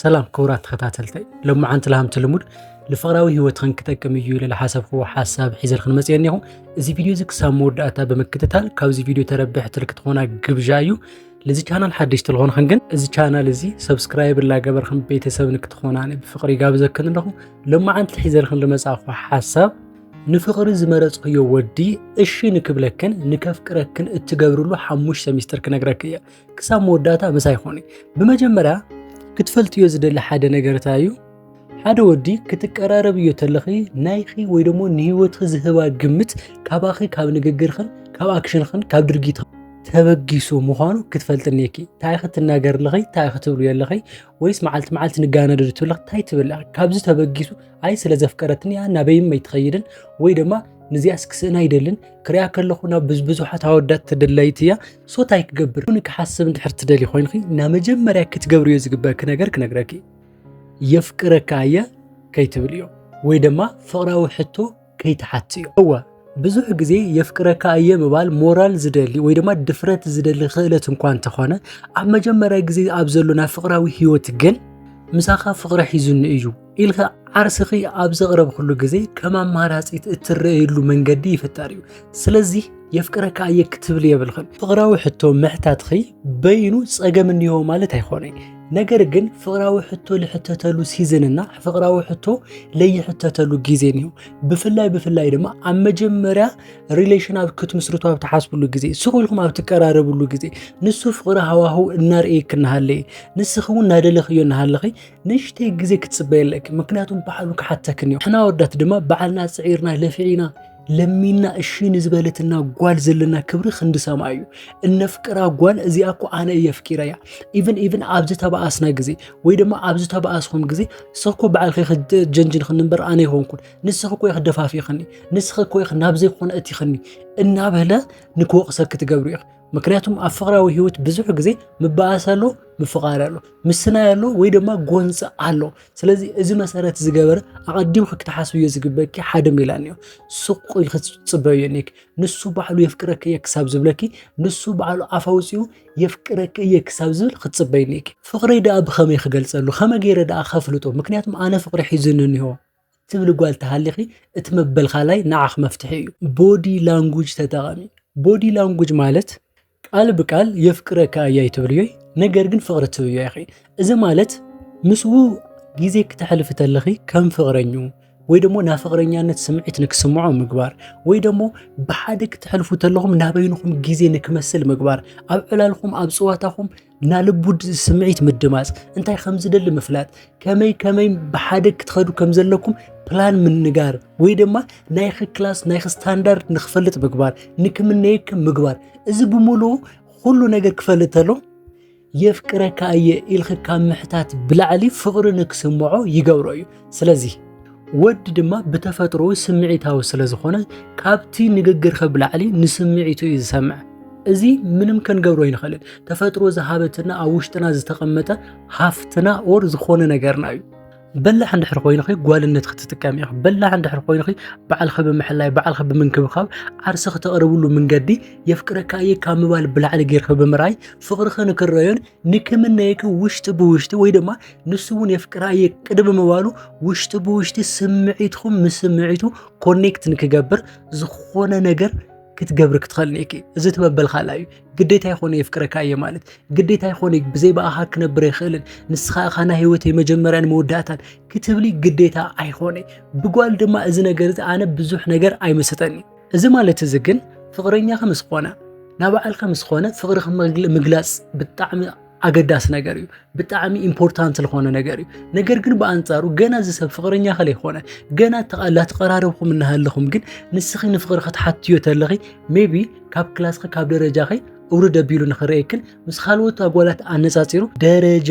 ሰላም ክቡራት ተኸታተልተይ ሎማዓንቲ ልሃምቲ ልሙድ ንፍቕራዊ ህይወትኽን ክጠቅም እዩ ኢለ ዝሓሰብክዎ ሓሳብ ሒዘልክን መፅአ እኒኹ እዚ ቪድዮ እዚ ክሳብ መወዳእታ ብምክትታል ካብዚ ቪድዮ ተረብሕቲ ልክትኾና ግብዣ እዩ ልዚ ቻናል ሓደሽቲ ልኾንኽን ግን እዚ ቻናል እዚ ሰብስክራይብ ላገበርክን ቤተሰብ ንክትኾና ብፍቕሪ ይጋብዘክን ኣለኹ ሎማዓንቲ ሒዘልክን ልመፃእኹ ሓሳብ ንፍቕሪ ዝመረፅክዮ ወዲ እሺ ንክብለክን ንከፍቅረክን እትገብርሉ ሓሙሽተ ሚስጥር ክነግረክ እየ ክሳብ መወዳእታ ምሳይ ኮኒ ብመጀመርያ ክትፈልጥዮ ዝደሊ ሓደ ነገር እንታይ እዩ ሓደ ወዲ ክትቀራረብዮ ተለኺ ናይኺ ወይ ደሞ ንህይወትኺ ዝህባ ግምት ካባኺ ካብ ንግግርኽን ካብ ኣክሽንኽን ካብ ድርጊት ተበጊሱ ምዃኑ ክትፈልጥ እኒኪ እንታይ ክትናገር ኣለኺ እንታይ ክትብሉ ኣለኺ ወይስ መዓልቲ መዓልቲ ንጋነዶ ትብለኺ እንታይ ትብል ካብዚ ተበጊሱ ኣይ ስለ ዘፍቀረትኒ እያ ናበይም ኣይትኸይድን ወይ ድማ ንዚኣስ ክስእና ይደልን ክሪያ ከለኹ ናብ ብዙሓት ኣወዳት ተደላይቲ እያ ሶ ታይ ክገብር ን ክሓስብ እንድሕር ትደልይ ኮይንኺ እና መጀመርያ ክትገብርዮ ዝግበኪ ነገር ክነግረኪ የፍቅረካ እየ ከይትብልዮ ወይ ድማ ፍቕራዊ ሕቶ ከይትሓትዮ እወ ብዙሕ ግዜ የፍቅረካ እየ ምባል ሞራል ዝደሊ ወይ ድማ ድፍረት ዝደሊ ክእለት እንኳ እንተኾነ ኣብ መጀመርያ ግዜ ኣብ ዘሎና ፍቕራዊ ህይወት ግን ምሳኻ ፍቕሪ ሒዙኒ እዩ ኢልካ ዓርስኺ ኣብ ዘቕረብክሉ ግዜ ከም ኣማራፂት እትረየሉ መንገዲ ይፍጠር እዩ ስለዚ የፍቅረካ እየ ክትብል የብልኽን ፍቕራዊ ሕቶ ምሕታትኺ በይኑ ፀገም እኒሆ ማለት ኣይኮነ ነገር ግን ፍቕራዊ ሕቶ ልሕተተሉ ሲዝንና ፍቕራዊ ሕቶ ለይሕተተሉ ግዜ እኒሆ ብፍላይ ብፍላይ ድማ ኣብ መጀመርያ ሪሌሽን ኣብ ክትምስርቱ ኣብ ትሓስብሉ ግዜ ስቑልኩም ኣብ ትቀራረብሉ ግዜ ንሱ ፍቕሪ ሃዋህው እናርእየ ክናሃለየ ንስኺ እውን እናደለኽዮ እናሃለኺ ንእሽተይ ግዜ ክትጽበይ ኣለኪ ምክንያቱም ባዕሉ ክሓተክን እዩ ሕና ወዳት ድማ ባዕልና ጽዒርና ለፊዒና ለሚና እሺ ንዝበለትና ጓል ዘለና ክብሪ ክንዲ ሰማይ እዩ እነፍቅራ ጓል እዚኣ እኮ ኣነ እየ ፍቂረያ ኢቨን ኢቨን ኣብ ዝተባኣስና ግዜ ወይ ድማ ኣብ ዝተባኣስኹም ግዜ ንስኺ ባዕልኺ ክጀንጅን ክንበር ኣነ ይኾንኩን ንስኺ ኮ ክደፋፊኽኒ ንስኺ ኮ ናብ ዘይኮነ እቲኽኒ እናበለ ንክወቕሰኪ ትገብሪ ኢኺ ምክንያቱም ኣብ ፍቅራዊ ህይወት ብዙሕ ግዜ ምባኣስ ኣሎ ምፍቃር ኣሎ ምስናይ ኣሎ ወይ ድማ ጎንፂ ኣሎ ስለዚ እዚ መሰረት ዝገበረ ኣቐዲምኪ ክትሓስብዮ ዝግበኪ ሓደ ሜላ እኒኦ ስቁ ኢልኪ ትፅበዮ እኒኪ ንሱ ባዕሉ የፍቅረኪ እየ ክሳብ ዝብለኪ ንሱ ባዕሉ ኣፍ ኣውፂኡ የፍቅረኪ እየ ክሳብ ዝብል ክትፅበይ እኒኪ ፍቅረይ ደኣ ብኸመይ ክገልፀሉ ከመይ ገይረ ደኣ ከፍልጦ ምክንያቱም ኣነ ፍቅሪ ሒዙኒ እኒሆ እትብሊ ጓል ተሃሊኺ እቲ መበልካላይ ንዓኽ መፍትሒ እዩ። ቦዲ ላንጉጅ ተጠቐሚ። ቦዲ ላንጉጅ ማለት ቃል ብቃል የፍቅረካ እየ ኣይትብልዮይ ነገር ግን ፍቕሪ ትብዮ ኢኺ። እዚ ማለት ምስኡ ግዜ ክተሕልፊ ተለኺ ከም ፍቕረኙ ወይ ደሞ ናይ ፍቕረኛነት ስምዒት ንክስምዖ ምግባር ወይ ደሞ ብሓደ ክትሕልፉ ተለኹም ናበይንኹም ግዜ ንክመስል ምግባር ኣብ ዕላልኹም ኣብ ፅዋታኹም ናልቡድ ስምዒት ምድማፅ እንታይ ከም ዝደሊ ምፍላጥ ከመይ ከመይ ብሓደ ክትኸዱ ከም ዘለኩም ፕላን ምንጋር ወይ ድማ ናይኺ ክላስ ናይኺ ስታንዳርድ ንክፈልጥ ምግባር ንክምነየክም ምግባር እዚ ብምሉ ኩሉ ነገር ክፈልጥ ተሎ የፍቅረካ እየ ኢልኺ ካብ ምሕታት ብላዕሊ ፍቕሪ ንክስምዖ ይገብሮ እዩ ስለዚ ወዲ ድማ ብተፈጥሮ ስምዒታዊ ስለ ዝኾነ ካብቲ ንግግርኸ ብላዕሊ ንስምዒቱ እዩ ዝሰምዐ። እዚ ምንም ክንገብሮ ኣይንኽእልን። ተፈጥሮ ዝሃበትና ኣብ ውሽጥና ዝተቐመጠ ሃፍትና ኦር ዝኾነ ነገርና እዩ። በላሕ እንድሕር ኮይንኺ ጓልነት ክትጥቀም ኢኺ በላሕ እንድሕር ኮይንኺ ባዕልኺ ብምሕላይ ባዕልኺ ብምንክብኻብ ዓርሲ ክተቕርብሉ መንገዲ የፍቅረካ እየ ካብ ምባል ብላዕሊ ጌርኺ ብምርኣይ ፍቕርኺ ንክረዮን ንክምነየኪ ውሽጢ ብውሽጢ ወይ ድማ ንሱ እውን የፍቅራ እየ ቅድሚ ምባሉ ውሽጢ ብውሽጢ ስምዒትኩም ምስ ስምዒቱ ኮኔክት ንክገብር ዝኾነ ነገር ክትገብሪ ክትኸእል እኔኪ እዚ ትበበልካላ እዩ ግዴታ ይኾነ የፍቅረካ እየ ማለት ግዴታ ይኾነ ብዘይ ብኣኻ ክነብር ይኽእልን ንስኻ እኻ ናይ ህይወተይ መጀመርያን መወዳእታን ክትብሊ ግዴታ ኣይኾነ ብጓል ድማ እዚ ነገር እዚ ኣነ ብዙሕ ነገር ኣይመሰጠኒ እዚ ማለት እዚ ግን ፍቕረኛኺ ምስ ኮነ ናባዕልካ ምስ ኮነ ፍቕርኺ ምግላፅ ብጣዕሚ ኣገዳሲ ነገር እዩ ብጣዕሚ ኢምፖርታንት ዝኾነ ነገር እዩ ነገር ግን ብኣንጻሩ ገና እዚ ሰብ ፍቕረኛ ከለ ይኾነ ገና ላተቐራረብኹም እናሃለኹም ግን ንስኺ ንፍቕሪ ክትሓትዮ ተለኺ ሜቢ ካብ ክላስኺ ካብ ደረጃኺ እውርድ ኣቢሉ ንኽረየክን ምስ ካልኦት ኣጓላት ኣነፃፂሩ ደረጃ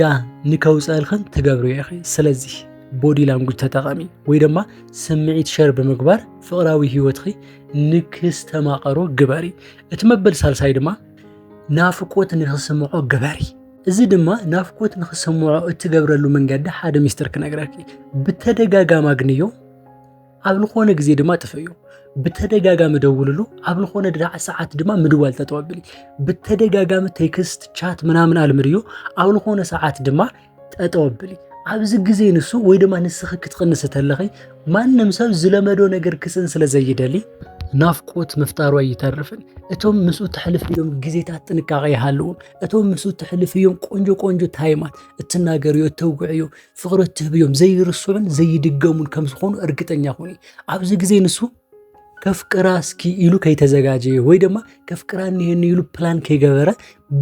ንከውፀልኽን ትገብሩ ኢኺ ስለዚ ቦዲ ላንጉጅ ተጠቐሚ ወይ ድማ ስምዒት ሸር ብምግባር ፍቕራዊ ህይወትኺ ንክስተማቐሮ ግበሪ እቲ መበል ሳልሳይ ድማ ናፍቆት ንክስምዖ ግበሪ። እዚ ድማ ናፍቆት ንክስምዖ እትገብረሉ መንገዲ ሓደ ሚስጥር ክነግረኪ፣ ብተደጋጋሚ ኣግንዮ፣ ኣብ ዝኾነ ግዜ ድማ ጥፍእዮ። ብተደጋጋሚ ደውልሉ፣ ኣብ ዝኾነ ድራዕ ሰዓት ድማ ምድዋል ተጠወብሊ። ብተደጋጋሚ ቴክስት ቻት ምናምን ኣልምድዮ፣ ኣብ ዝኾነ ሰዓት ድማ ጠጠው ኣብሊ ኣብዚ ግዜ ንሱ ወይ ድማ ንስኺ ክትቕንስ እተለኺ ማንም ሰብ ዝለመዶ ነገር ክስን ስለ ዘይደሊ ናፍቆት ምፍጣሩ ኣይተርፍን። እቶም ምስኡ ተሕልፍ እዮም ግዜታት ጥንቃቐ ይሃልዎም። እቶም ምስኡ ተሕልፍ እዮም ቆንጆ ቆንጆ ታይማት እትናገርዮ እተውግዕዮ ፍቕሪ እትህብዮም ዘይርስዑን ዘይድገሙን ከም ዝኾኑ እርግጠኛ ኹኒ ኣብዚ ግዜ ንሱ ከፍቅራ እስኪ ኢሉ ከይተዘጋጀየ ወይ ድማ ከፍቅራ እኒሀኒ ኢሉ ፕላን ከይገበረ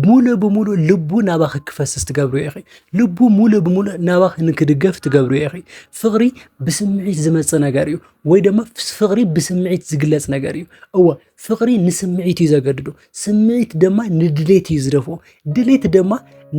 ሙሉ ብሙሉ ልቡ ናባኺ ክፈስስ ትገብሩ ኢኺ ልቡ ሙሉ ብሙሉ ናባኺ ንክድገፍ ትገብሩ ኢኺ ፍቕሪ ብስምዒት ዝመፅ ነገር እዩ ወይ ድማ ፍቕሪ ብስምዒት ዝግለፅ ነገር እዩ እወ ፍቕሪ ንስምዒት እዩ ዘገድዶ ስምዒት ድማ ንድሌት እዩ ዝደፎ ድሌት ድማ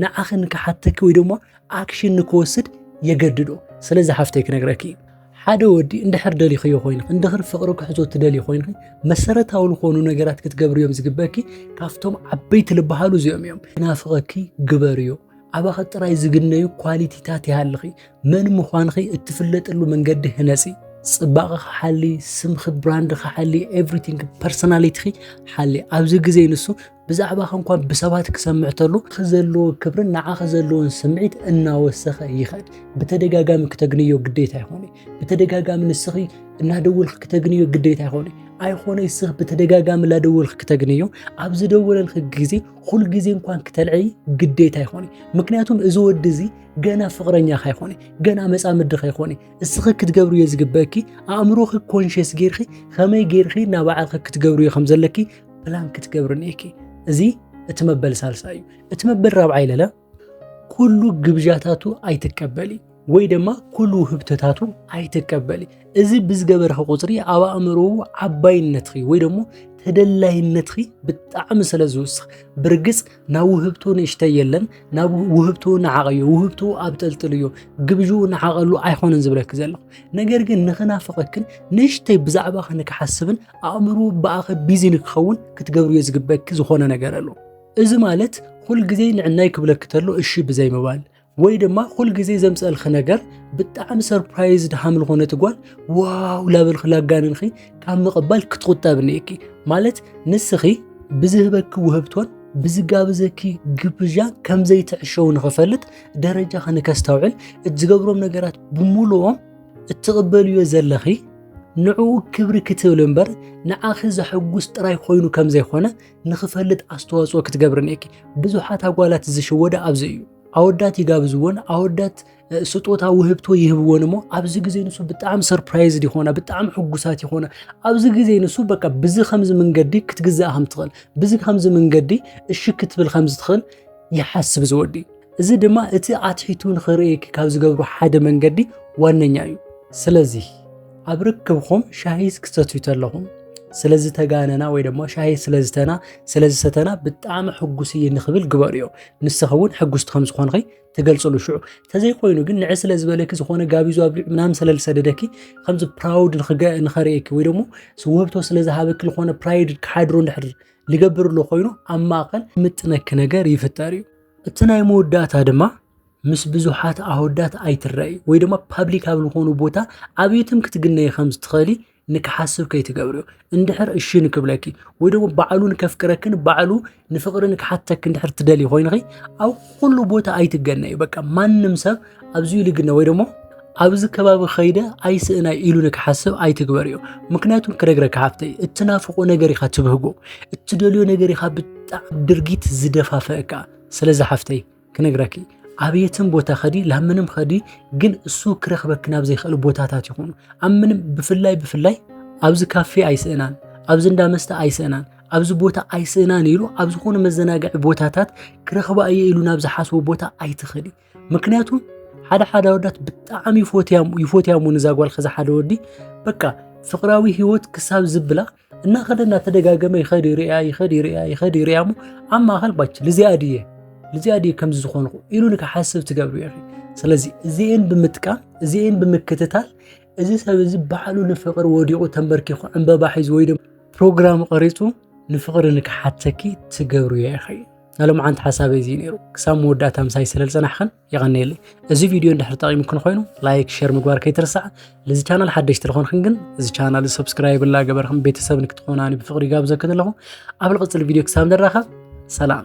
ንዓኺ ንክሓተኪ ወይ ድማ ኣክሽን ንክወስድ የገድዶ ስለዚ ሓፍተይ ክነግረኪ እዩ ሓደ ወዲ እንድሕር ደሊኽዮ ኮይንኺ እንድኽር ፍቕሪ ክሕዞ ትደልዩ ኮይንኺ መሰረታዊ ዝኾኑ ነገራት ክትገብርዮም ዝግበኪ ካብቶም ዓበይቲ ልበሃሉ እዚኦም እዮም ናፍቐኪ ግበርዮ ኣባኸ ጥራይ ዝግነዩ ኳሊቲታት ይሃልኺ መን ምዃንኺ እትፍለጥሉ መንገዲ ህነጺ ጽባቐ ክሓሊ ስምኺ ብራንድ ክሓሊ ኤቭሪቲንግ ፐርሶናሊቲኺ ሓሊ ኣብዚ ግዜ ንሱ ብዛዕባኻ እንኳ ብሰባት ክሰምዕ ተሎ ዘለዎ ክብርን ንዓኻ ዘለዎን ስምዒት እናወሰኸ ይኸድ። ብተደጋጋሚ ክተግንዮ ግዴታ ይኾነ ብተደጋጋሚ ንስኺ እናደወልክ ክተግንዮ ግዴታ ይኾነ ኣይኾነ ስኽ ብተደጋጋሚ ላደወልክ ክተግንዮ ኣብ ዝደወለልክ ግዜ ኩል ግዜ እንኳን ክተልዕይ ግዴታ ይኾነ ምክንያቱም እዚ ወዲ እዚ ገና ፍቅረኛ ካይኾነ ገና መፃምዲ ካይኾነ እስኺ ክትገብርዮ ዝግበእኪ ኣእምሮኺ ኮንሽስ ጌርኺ ከመይ ጌርኺ ናባዕልኺ ክትገብርዮ ከም ዘለኪ ፕላን ክትገብሪ እኒኤኪ እዚ እቲ መበል ሳልሳ እዩ እቲ መበል ራብዓ ይለለ ኩሉ ግብዣታቱ ኣይትቀበሊ ወይ ድማ ኩሉ ውህብተታቱ ኣይትቀበሊ እዚ ብዝገበርኺ ቁፅሪ ኣብ ኣእምሮ ዓባይነትኺ ወይ ደግሞ ተደላይነትኺ ብጣዕሚ ስለ ዝውስኽ ብርግፅ ናብ ውህብቶ ንእሽተ የለን ናብ ውህብቶ ንዓቐዮ ውህብቶ ኣብ ጠልጥልዮ ግብዥ ንዓቐሉ ኣይኮነን ዝብለኪ ዘለኹ ነገር ግን ንኽናፍቐክን ንእሽተይ ብዛዕባ ክንክሓስብን ኣእምሮ ብኣኸ ቢዚ ንክኸውን ክትገብርዮ ዝግበክ ዝኾነ ነገር ኣሎ እዚ ማለት ኩል ግዜ ንዕናይ ክብለክ ተሎ እሺ ብዘይ ምባል ወይ ድማ ኩል ግዜ ዘምፀልኺ ነገር ብጣዕሚ ሰርፕራይዝ ድሃም ዝኾነ ትጓል ዋው ላበልኺ ላጋንንኺ ካብ ምቕባል ክትቁጠብ ንየኪ ማለት ንስኺ ብዝህበኪ ውህብቶን ብዝጋብዘኪ ግብዣ ከምዘይትዕሸው ንኽፈልጥ ደረጃ ንከስተውዕል እትዝገብሮም ነገራት ብምሉኦም እትቕበልዮ ዘለኺ ንዕኡ ክብሪ ክትብል እምበር ንዓኺ ዘሐጉስ ጥራይ ኮይኑ ከም ዘይኮነ ንኽፈልጥ ኣስተዋፅኦ ክትገብሪ እኒአኪ። ብዙሓት ኣጓላት ዝሽወደ ኣብዚ እዩ። ኣወዳት ይጋብዝዎን ኣወዳት ስጦታ ውህብቶ ይህብዎን እሞ ኣብዚ ግዜ ንሱ ብጣዕሚ ሰርፕራይዝድ ይኾና፣ ብጣዕሚ ሕጉሳት ይኾና። ኣብዚ ግዜ ንሱ በቃ ብዚ ከምዚ መንገዲ ክትግዛእ ከም ትኽእል፣ ብዚ ከምዚ መንገዲ እሺ ክትብል ከም ዝትኽእል ይሓስብ ዝወዲ እዚ ድማ እቲ ኣትሒቱ ንኽርእየኪ ካብ ዝገብሩ ሓደ መንገዲ ዋነኛ እዩ። ስለዚ ኣብ ርክብኹም ሻሂ ክትሰትዩ ተለኹም ስለዚ ተጋነና ወይ ድማ ሻሂ ስለዝተና ስለዝሰተና ብጣዕሚ ሕጉስ እየ ንኽብል ግበርዮ ንስኺ እውን ሕጉስቲ ከም ዝኾንኺ ትገልፅሉ ሽዑ ተዘይኮይኑ ግን ንዕ ስለ ዝበለኪ ዝኾነ ጋቢዙ ኣብሊዑ ምናምን ስለዝሰደደኪ ከምዚ ፕራውድ ንኸርእየኪ ወይ ደግሞ ውህብቶ ስለዝሃበኪ ዝኾነ ፕራይድ ክሓድሮ እንድሕር ልገብር ኣሎ ኮይኑ ኣብ ማእኸል ምጥነኪ ነገር ይፍጠር እዩ እቲ ናይ መወዳእታ ድማ ምስ ብዙሓት ኣወዳት ኣይትረኣይ ወይ ድማ ፓብሊክ ኣብ ዝኾኑ ቦታ ኣብየትም ክትግነይ ከም ዝትኸእሊ ንክሓስብ ከይትገብርዮ እንድሕር እሺ ንክብለኪ ወይ ደግሞ ባዕሉ ንከፍቅረክን ባዕሉ ንፍቕሪ ንክሓተክ እንድሕር ትደሊ ኮይንኺ ኣብ ኩሉ ቦታ ኣይትገነይ በቃ ማንም ሰብ ኣብዚ ኢሉ ግነ ወይ ደሞ ኣብዚ ከባቢ ከይደ ኣይስእናይ ኢሉ ንክሓስብ ኣይትግበር እዩ ምክንያቱም ክነግረካ ሓፍተይ እትናፍቆ ነገር ኢኻ ትብህጎ እትደልዮ ነገር ኢኻ ብጣዕ ድርጊት ዝደፋፈእካ ስለዚ ሓፍተይ ክነግረኪ ኣብየትን ቦታ ከዲ ላብ ምንም ከዲ ግን እሱ ክረክበኪ ናብ ዘይክእል ቦታታት ይኹኑ ኣብ ምንም ብፍላይ ብፍላይ ኣብዚ ካፌ ኣይስእናን ኣብዚ እንዳ መስተ ኣይስእናን ኣብዚ ቦታ ኣይስእናን ኢሉ ኣብ ዝኾነ መዘናግዒ ቦታታት ክረኽባ እየ ኢሉ ናብ ዝሓስቦ ቦታ ኣይትኸዲ ምክንያቱ ሓደ ሓደ ወዳት ብጣዕሚ ይፎትያሙ ንዛ ጓል ከዛ ሓደ ወዲ በቃ ፍቅራዊ ህይወት ክሳብ ዝብላ እናኸደ እናተደጋገመ ይኸድ ይርያ ይኸድ ይርያ ይኸድ ይርያ እሞ ኣብ ማእኸል ባች ልዚኣ ድየ ልዚኣ ድየ ከምዚ ዝኾንኩ ኢሉ ንክሓስብ ትገብሩ ዩ ስለዚ እዚኤን ብምጥቃም እዚኤን ብምክትታል እዚ ሰብ እዚ ባዕሉ ንፍቅሪ ወዲቑ ተንበርኪኹ ዕምበባ ሒዙ ወይ ድማ ፕሮግራም ቐሪፁ ንፍቅሪ ንክሓተኪ ትገብሩ ዩ ኢኺ ናይ ሎምዓንቲ ሓሳበይ እዚ ነይሩ ክሳብ መወዳእታ ምሳይ ስለ ዝፀናሕኽን የቐንየለይ እዚ ቪድዮ እንድሕር ጠቒሙክን ኮይኑ ላይክ ሸር ምግባር ከይትርሳዕ ልዚ ቻናል ሓደሽቲ ዝኾንክን ግን እዚ ቻናል እዚ ሰብስክራይብ እናገበርክን ቤተሰብ ንክትኾናኒ ብፍቕሪ ጋብዘክን ኣለኹ ኣብ ልቕፅል ቪድዮ ክሳብ ንራኸብ ሰላም